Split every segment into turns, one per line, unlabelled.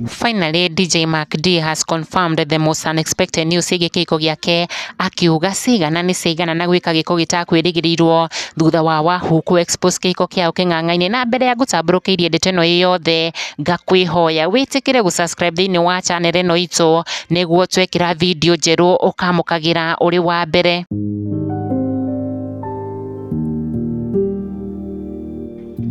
Finally, DJ Mark D has confirmed the most unexpected news ciĩgiĩ kĩhiko gĩake akiuga cigana nĩ cigana na gwĩka gĩko gĩtakwĩrĩgĩrĩirwo thutha wa Wahoo kũ expose kĩhiko kĩao kĩng'ang'ainĩ na mbere ya ngũtambũrũkĩirie ndeto ĩno ĩ yothe ngakwĩhoya wĩtĩkĩre gũ subscribe thĩinĩ wa channel ĩno itũ nĩguo twekĩra video njerũ ũkamũkagĩra ũrĩ wa mbere.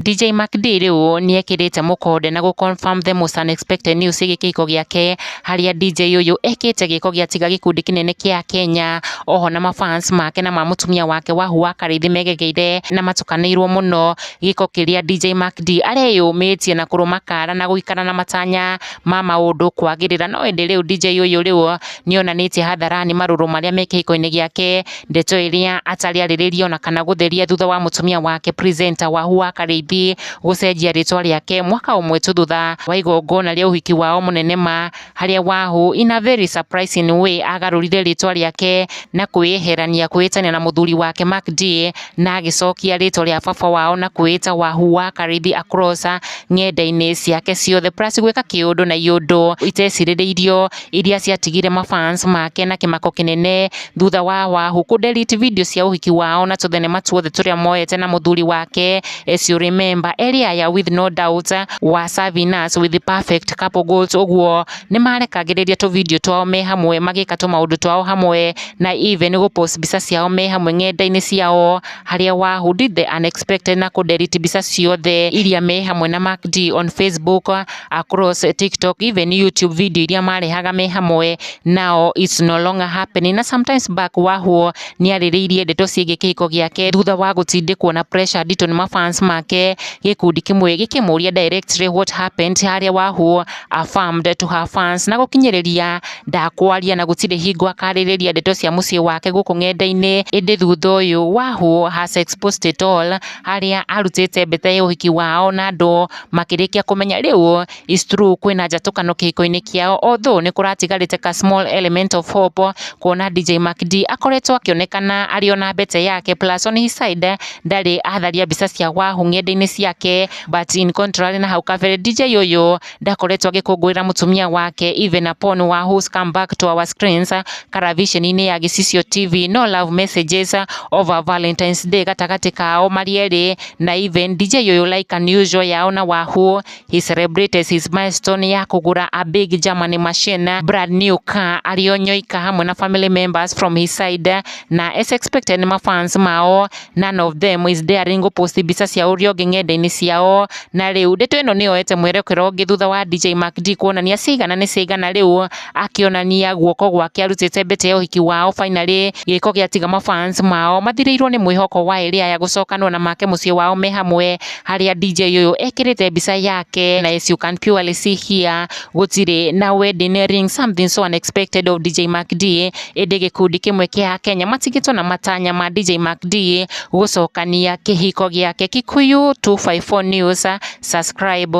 DJ Mac D rĩu nĩekĩrĩte mũkonde na gũ confirm the most unexpected news ĩgiĩ kĩhiko gĩake harĩa DJ ũyũ ekĩte gĩko gĩa tiga gĩkundi kĩnene kĩa Kenya oho na mafans make na ma mũtumia wake Wahu wa Karĩithĩ megegeire na matukanĩirwo mũno gĩko kĩrĩa DJ Mac D areyũmĩtie na kũrũma kara na gũikara na matanya ma maũndũ kwagĩrĩra no ĩndĩ rĩu DJ ũyũ rĩu nĩonanĩtie hadharani marũrũ marĩa me kĩhiko-inĩ gĩake Ndeto ĩrĩa atarĩ arĩrĩria ona kana gũtheria thutha wa mũtumia wake presenter Wahua Karĩithi gũcenjia rĩtwa rĩake mwaka ũmwe tu thutha wa igongona rĩa ũhiki wao mũnene ma, harĩa Wahu in a very surprising way agarũrire rĩtwa rĩake na kwĩyeherania kwĩĩtania na mũthuri wake Mark Dee na agĩcokia rĩtwa rĩa baba wao na kwĩĩta Wahua Karĩithi across ng'enda-inĩ ciake ciothe plus gwĩka kĩũndũ na iũndũ itecirĩrĩirio. iria ciatigire ma fans make na kĩmako kĩnene thutha wa Wahu kũ delete video cia ũhiki wao na tũthenema tuothe tũrĩa moete na mũthuri wake as you remember eri aya with no doubt wa serving us with the perfect couple goals ũguo nĩ marekagĩrĩria tũ video twao me hamwe magĩka tũ maũndũ twao hamwe na even gũ post mbica ciao me hamwe ng'enda-inĩ ciao harĩa Wahu did the unexpected na kũ delete mbica ciothe iria me hamwe na Mac D on Facebook across TikTok even YouTube video iria marehaga me hamwe nao it's no longer happening na sometimes back wahwo nĩ arĩrĩirie ndeto ciĩgiĩ kĩhiko gĩake thutha wa gũtindĩkwo na pressure nditũ nĩ mafans make gĩkundi kĩmwe gĩkĩmũria directly what happened harĩa wahwo affirmed to her fans na gũkinyĩrĩria ndakwaria na gũtirĩ hingo akarĩrĩria ndeto cia mũciĩ wake gũkũ ng'enda-inĩ ĩndĩ thutha ũyũ wahwo has exposed it all harĩa arutĩte mbeta ya ũhiki wao na andũ makĩrĩkia kũmenya rĩu is true kwĩna njatũkano kĩhiko-inĩ kĩao although nĩ kũratigarĩte ka small element of hope kuona DJ Mark D akoretwo akĩonekana arĩ ona mbete yake plus on his side ndarĩ atharia mbica cia wahu ng'enda-inĩ ciake but in contrary na hau kabere DJ ũyũ ndakoretwo agĩkũngũĩra mũtumia wake even upon Wahu's come back to our screens karaviceni-inĩ ya Gĩcicio TV no love messages over Valentine's Day gatagatĩ kao marĩ erĩ na even DJ ũyũ like unusual yao na wahoo he celebrated his milestone ya kũgũra a big Germany machine brand new car arĩ o nyoika hamwe na family members from his side na as expected nĩ mafans mao none of them is daring gũpost mbica cia ũrĩa ũngĩ ng'enda-inĩ ciao na rĩu ndeto ĩno nĩyoete mwerekero ũngĩ thutha wa DJ Mac D kuonania cigana nĩ cigana rĩu akĩonania guoko gwake arutĩte mbete ya ũhiki wao finally gĩko gĩatiga mafans mao mathirĩirwo nĩ mwĩhoko wa ĩrĩa ya gũcokanwo na make mũciĩ wao me hamwe harĩa DJ ũyũ ekĩrĩte mbica yake na as you can purely see here gũtirĩ na wedding ring something so unexpected of DJ Mac D ĩndĩ gĩkundi kĩmwe kĩa Akenya matigĩtwo na matanya ma DJ Mac D gũcokania kĩhiko gĩake Kikuyu 254 News subscribe